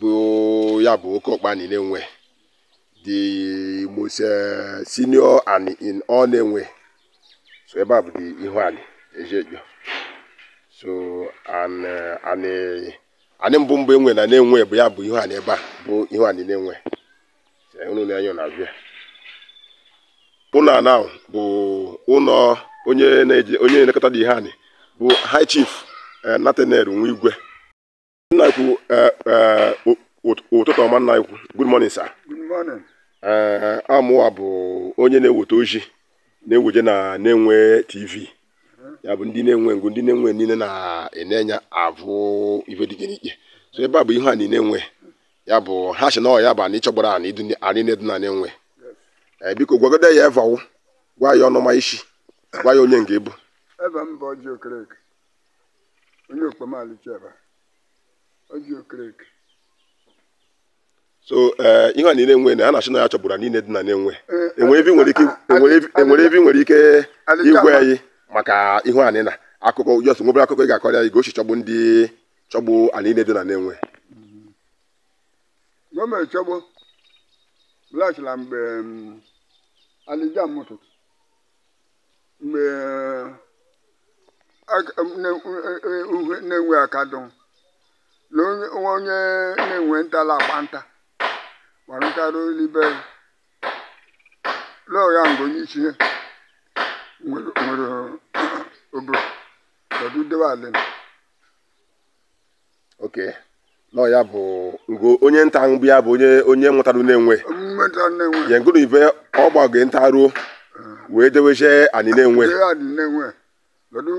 bụ ya bụ oke ọkpa anị Nenwe the most eh, senior anị in all Nenwe so ebe a bụ the ihu anị Eziecho so and eh, anị anị mbụ mbụ enwe na Nenwe bụ ya bụ ihu anị ebe a bụ ihu anị Nenwe So, unu na anya na-abịa ụlọ a now bụ ụlọ onye na-eje onye na-elekọta the ihu anị bụ high chief eh, Nathaniel Nwigwe nna ikwu eh, eh, ụ- ụt- ụtụtụ ọma nna ikwu good morning sir Good morning. Eh, amụwa bụ onye na-eweta ozi na-eweje na Nenwe tv ya bụ ndị Nenwe ngụ ndị Nenwe niile na-ene enya avụ ife dị iche n'iche so ebe a bụ ihu anị Nenwe ya bụ ha sị na ọ ya bụ anị chọgburu anị dụ anị nine dụ na Nenwe Eh, biko gwagode ya eva wo gwa ya ọnụma i si gwa ya onye nke ị bụ Eva m bụ Ọjị Okereke. onye okpomali cheba Ọjị Okereke so ee eh, ihu anị Nenwe na ha na-asị na ya chọgburu anị niile dị na Nenwe eh, enwere ive i nwere ike enwere ive i nwere ike ịgwa anyị maka ihu anị na akụkọ just nwebere akụkọ ị ga-akọrọ anyị gosi chọgbu ndị chọgbu anị niile dị na Nenwe gọọmenti chọgbu blachila mgbe mm, alija mụtụtụ mgbe aka- na- uhe Nenwe akadụ na onye nwa onye Nenwe nta la-agba nta gbara nta ruo l'ibe lọọ ya mgbe onye isi ya nwere nwere obodo ọdụ debe alịna okay no ya bụ ngo onye nta mgbe ya bụ onye onye wetara Nenwe mmeta Nenwe ya ngụrụ ibe ọ gbago nta ruo wee dewezie anị Nenwe ihu anị Nenwe kedu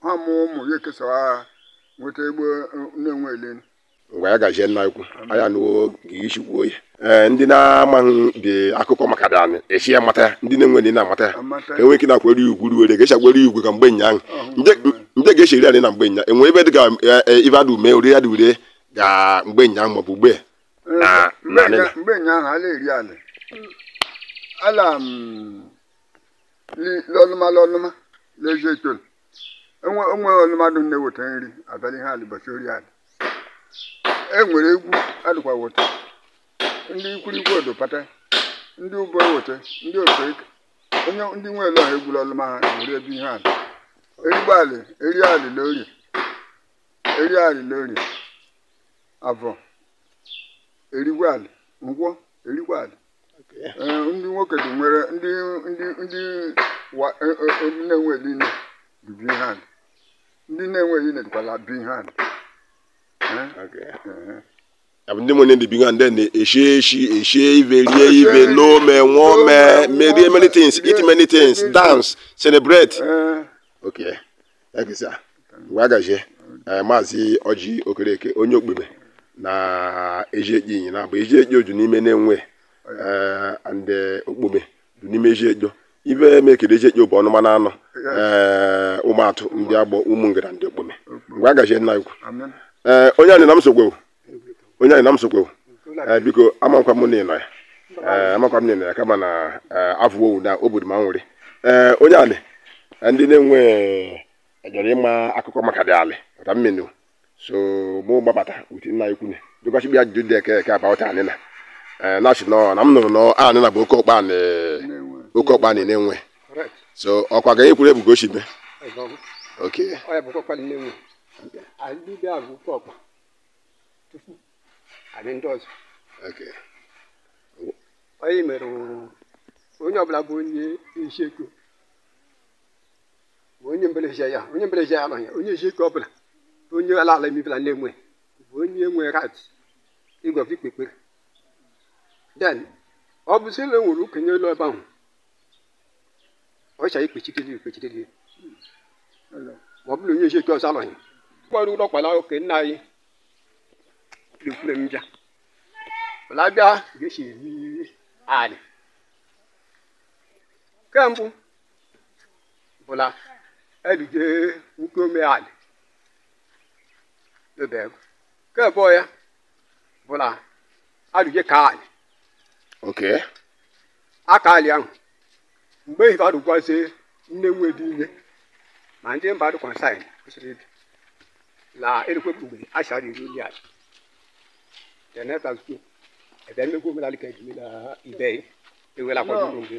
ha mụ ụmụ ya ekesara ha nweta egbe Nenwe ele ngwa ya gazie nna ikwu anyị anụwo ka i si kwuo ya ee ndị na-amaghị the akụkọ maka the anị esi ya mata ya ndị Nenwe ndị na-amata ya ka enwe ike na-akwere ugwu ruwere ga-esi akwere ugwu ka mgbe nya ahụ ndị ga-esi eri anị na mgbe nya enwe ebe dị ka ibe adụ mee ori ya dị ure ga mgbe nya ahụ maọbụ ugbe na na anyị na mgbe nya ahụ ala eri ala ala m li l'ọnụma l'ọnụma Eziecho enwe onwe ọnụma dụ na-eweta nri abalị ha alịbọchị ori ala e nwere egwu adịkwa weta ndị ikwurikwu odopata ndị ụbọ eweta ndị ofe eke onye ndị nwe ele ọha egburu ọlụma ha were ebe ihe ala erigwo alị eri alị na orie eri alị na orie avọ erigwo alị nkwọ erigwo alị Ee, ndị nwoke dị nwere ndị ndị ndị wa- e- e- e- Nenwe eli nne bibi ihe ala ndị Nenwe niile na-ejikwala big hand abụ ndị nwere ndị bi and then eshi eshi eshi ive rie ive n'ome nwome merie many things eat many things dance celebrate okay ekisa mgbe a gazie eh, maazị ọjị okereke onye okpome na Eziecho inyi na abụ Eziecho oju n'ime Nenwe eh, ndị okpome n'ime Eziecho ibe mekede Eziecho bụ ọnụma na anọ ee ụmụatụ ndị agbọ ụmụ ngara ndị okpome mgbe a gaji nna ikwu ee onye anyị na m sokwewu onye anyị na m sokwewu ee biko amakwa m n'ịnọ ya ee amakwa m n'ịnọ ya kama na ee afụwowu na obodo ma nwere ee onye anyị ndị Nenwe ejere ịma akụkọ maka dị alị maka mmenu so mụ gbabata wit nna ikwune dịkwasị bịa ajụjụ dị eke eke about anịna ee na-ashị nọ na m nụrụ na anịna bụ oke ọkpa na oke ọkpa na Nenwe correct so ọkwa ga ekwuru ebugo oshibe ọzọ ok ọ ya bụ ọkpa Nenwe anyị niile ahụ oke ọkpa tupu anyị ndị ọzọ ok onye mere onye ọbụla bụ onye Eziecho ma onye mbelezie ya onye mbelezie ya anọghị ya onye Eziecho ọ bụla onye ala ala emebila Nenwe bụ onye nwe right ịgọ ikpe ekpere then ọ bụ sị na enwere okenye elu ebe ahụ ọ chọrọ ikpechideli ikpechideli ma ọ bụrụ onye Eziecho ọzọ anọghị gbara ụlọ kpala oke nna anyị ekwure m bịa wala bịa ga-esi eri anị nke mbụ bụ na elije nwoke omealị n'obe ego nke abụọ ya bụ na alụje ka alị oke aka alị ahụ mgbe ehife adụgwazie Nenwe dị ime ma ndị mba dị concern kwesịrị ịdị na erikwe mgbe a chara iri ndị ala teneta zuo ebe mmegbu omenala ka ejimela ibe ewela kwado mgbe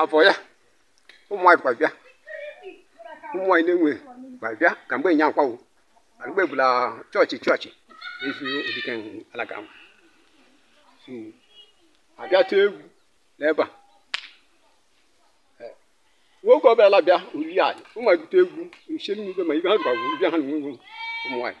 afọ ya ụmụ nwaanyị kwa bịa ụmụ nwaanyị Nenwe kwa bịa ka mgbe nya akwawo na mgbe bụla chọọchị chọọchị ezi odike alaka ahụ so abịa tee egwu n'ebe a Eh, nwoke ọbịala bịa uli ala ụmụ ebute egwu nche n'igwe ma ibe ha rụkwa bụ bịa ha na nwe ụmụ nwaanyị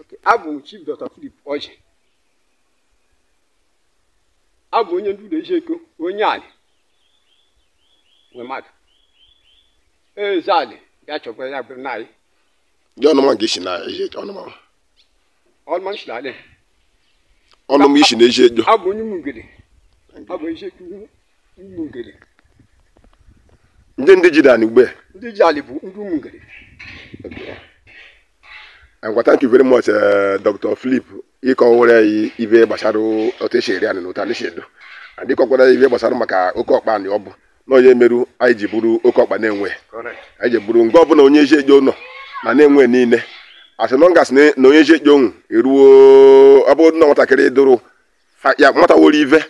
Okay, abụ m Chief Dr. Philip Ọjị abụ onye ndu ụlọ Eziecho onye alị Wemaka eze alị ya chọkwara ya bụrụ n'alị Ndị ọnụma nke isi na Eziecho ọnụma. ọlụma m si n'alị Ọnụma isi na Eziecho. abụ onye Mugede abụ Eziecho ụmụ ngere ndị ndị jide anị ugbe ndị ji alị bụ ndị ụmụ ngere ngwa thank you very much eh, dr philip ịkọwara anyị ive gbasara otu esi eri anị na otu anị si edo and ịkọkwara anyị ive gbasara maka oke ọkpa anị ọ bụ na onye meru anyị ji bụrụ oke ọkpa nenwe anyị ji bụrụ ngbe ọbụla onye eziecho nọ na nenwe niile as long as na onye eziecho nwu eruo ọ bụrụ na nwatakịrị dụrụ fa- ya nwata woro ive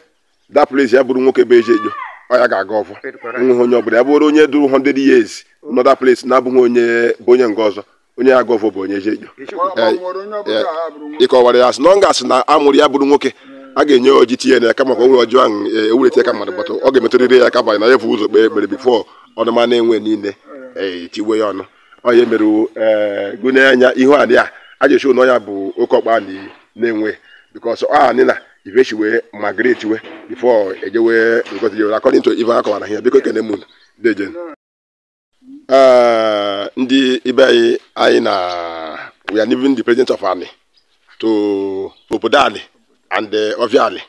that place ya bụrụ nwoke bụ eziecho ọ ya ga-agọ ọfọ nweghị onye ọbụla ya bụrụ onye dụrụ 100 years nọ that place na-abụghị onye bụ onye nke ọzọ onye ya-agọ ọfọ bụ onye eziecho ịkọwara ya as long as na amụrụ ya bụrụ nwoke a ga-enye ọjị tinye na aka ma ka o nwere ọjị ahụ ewulite ya ka mmadụ but ọ ga-emetụrịrị ya aka ba na ya vu ụzọ kpee ekpere before ọnụma nenwe niile ee tiwe ya ọnụ onye mere eh, gụnye anya ihu anị a a ga-eshi na ọ ya bụ oke ọkpa anị nenwe because ọ anị na ive shi wee migrate we before ejewe ngozi jewere according to ive akọwara here biko kene mụ deje eh, ndị ibe anyị anyị na we are leaving the presence of anị to obodo anị and ọvịa eh, anị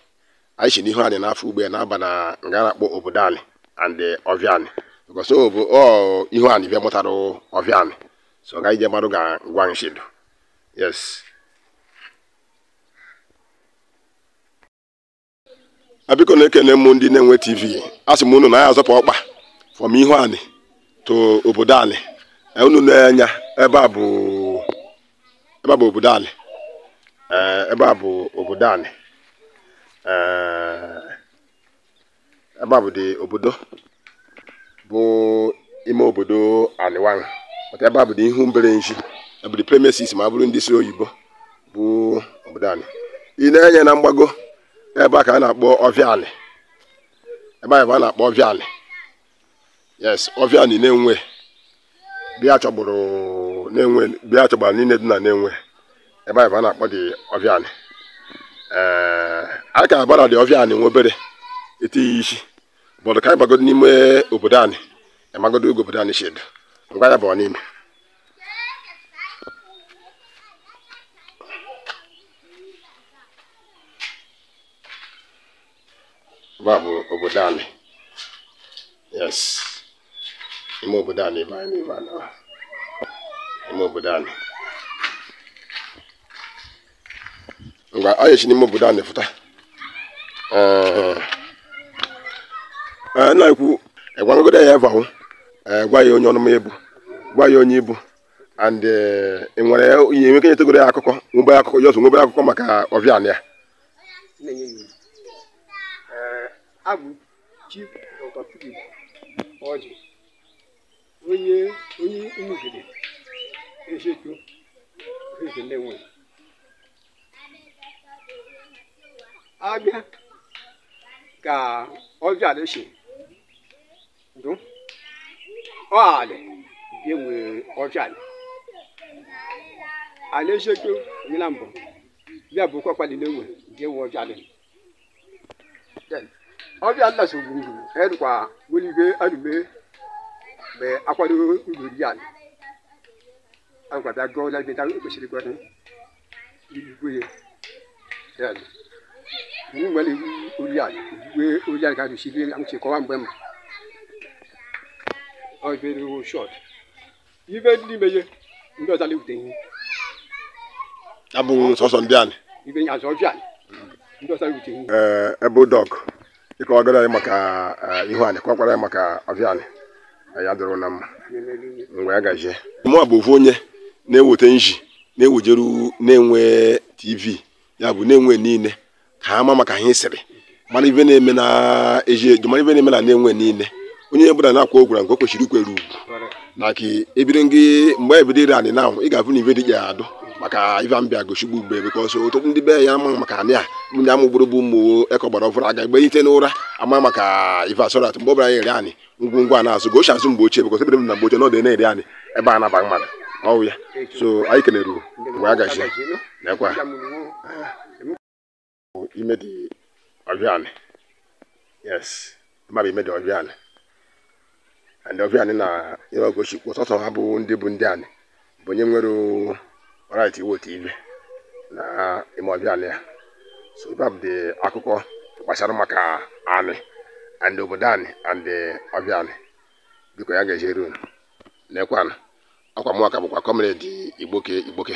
anyị si n'ihu anị na-afụ ugbe a na-aba na nga na-akpọ obodo anị and ọvịa anị because ọ bụ ọ ihu anị bịa mụtara ọvịa anị so ọ gaghị je mmadụ ga-agwa m shi edo yes a biko na-ekene m ndị nenwe tv asị m unu na anyị azọpụ ọkpa from ihu anị to obodo anị unu nee anya ebe a bụ ebe a bụ obodo anị ee ebe a bụ obodo anị ee ebe a bụ dị obodo bụ ime obodo anị nwa maka ebe a bụ dị ihu mbere ezi ebe dị premises ma bụrụ ndị sụ oyibo bụ obodo anị i nee enya na mgbago ebe a ka a na-akpọ ọvịa anị ebe a bụ a na-akpọ ọvịa anị yes ọvịa anị nenwe bịa chọgburu nenwe bịa chọgbara niile dị na nenwe ebe a bụ a na-akpọ dị ọvịa anị ee a ka abara dị ọvịa anị nwa obere etinye isi but ka anyị bagodo n'ime obodo anị amagodo otu obodo anị si edo ngwa ya bụ ọ n'ime ebe a bụ obodo anị yes ime obodo anị ebe anyị ebe a na ime obodo anị ngwa anyị si n'ime obodo anị fụta ee ee na-ekwu egwagodo ya ebe ahụ ee gwa ya onye ọnụma ị bụ gwa ya onye ị bụ and eh, ị nwere ihe nweke nyetegoro ya akụkọ nwebe akụkọ just nwebe akụkọ maka ọvịa anị a na-enye ya ee abụ chief dr philip ọjị onye onye umugede eziecho uhueze nenwe abịa ka ọvịa alị si ndụ ọ alị bie nwere ọvịa alị alị eziecho onye na mbụ bịa bụ kwakwali nenwe bịa nwe ọvịa alị Then, ọvịa alị na so gburu gburu erukwa nwere ike anume mgbe akwado ugoro ya alị a gwara bịa gụọ lagide o kwesịrị ịgwa igwe ya iwu nwere iwu ori ala uwe ori ala ga-adụsi ihe amụchi kọwa mgbe ma ọ very short ibe ndị ime ihe ndị ọzọ na-ewute ihe abụghị sọsọ ndị anị ibe nye azọ ọvịa alị ndị ọzọ na-ewute ihe ee ebe dọk dịka ọ gara anyị maka eh, ihu anị kwakwara anyị maka oviani ya dụrụ na mma mgbe ya gaje mụ bụ ofu onye na-eweta nji na-ewejeru nenwe tv ya bụ nenwe niile ka ha ma maka ha sịrị mara ive na-eme na eziecho mara ive na-eme na nenwe niile onye ọbụla na-akwa ogwara nke o kwesịrị ikwere ugwu na ka ebiri ngị mgbe ebido ire anị na ị ga-avụ na ive dị ya adụ maka ive m bịa gochigbu ugbo because ọtụtụ ndị be ya ama maka anị a ndị amụ gburu bụ ụmụ ekọ gbara ọfụrụ aga egbe ite n'ụra ama maka ive so that mgbe ọbụla ya ere anị ngwongwo a na-azụ gochi azụ mgbe ochie because ebere m na mgbe ochie na ọ dị na-ere anị ebe a na-aba mmadụ ọwụ ya so anyị kelere mgbe a gachi nekwa ime dị oviani yes mmadụ ime dị oviani and oviani na ihe ogochi kwụ sọsọ ha bụ ndị bụ ndị anị bụ onye nwere right iwote ive na ime oviani ya so ive a bụ dị akụkọ gbasara maka anị and obodo anị and oviani biko ya ga-ejere unu nekwanụ akwa mụa ka bụkwa comrade igboke igboke